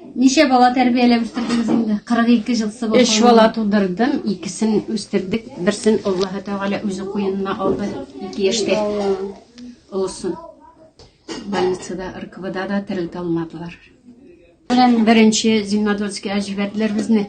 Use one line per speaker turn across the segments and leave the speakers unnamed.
Ничә бала тәрбияләп үстердегез инде? 42 ел сыбы. Өч бала тудырдым,
икесен үстердек, берсен Аллаһы Тәгалә үзе куенына алды, ике яшьтә. Олысын. Больницада, РКБда да терелтә алмадылар. Белән беренче Зимнодольскига җибәрделәр безне.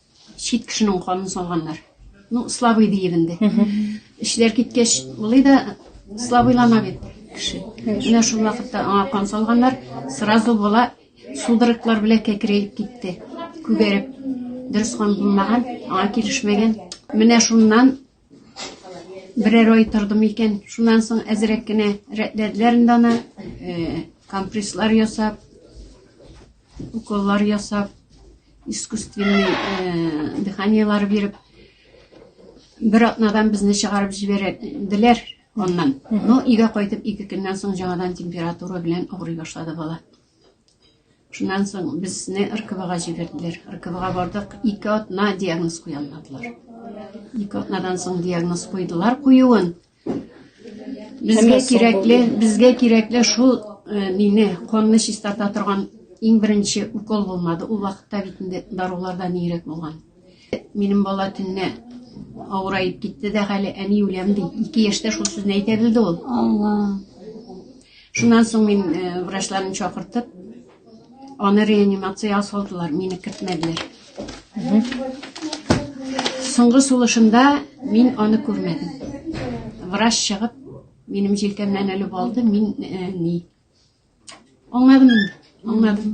чит кешенең канын салганнар ну слабый диеп инде эшләр киткәч болай да слабыйлана бит кеше менә шул вакытта аңа кан салганнар сразу бала судороглар белән кәкерәеп китте күгәреп дөрес кан булмаган аңа килешмәгән менә шуннан Берәр ай тордым икән, шуннан соң әзрәк кенә рәтләделәр инде аны. Э, компресслар ясап, уколлар ясап, искусственный э, дыханиялар биреп, бер атнадан безне чыгарып җибәрделәр аннан. Но өйгә кайтып ике көннән соң жаңадан температура белән авырый башлады бала. Шуннан соң безне РКВга җибәрделәр. РКВга бардык, ике атна диагноз куя алмадылар. Ике атнадан соң диагноз куйдылар куюын. Безгә кирәкле, безгә кирәкле шул э, мине конны чистарта торган иң беренче укол булмады. Ул вакытта бит инде даруларда нирәк булган. Минем бала төнне авырайып китте дә хәле әни үләм ди. Ике яшьтә шул сүзне әйтә белде ул. Алла. Шуннан соң мин э, врачларын чакыртып, аны реанимациягә салдылар, мине кертмәделәр. Соңгы сулышында мин аны күрмәдем. Врач чыгып, минем җилкәмнән әлеп алды, мин э, ни. Аңладым, аңладым.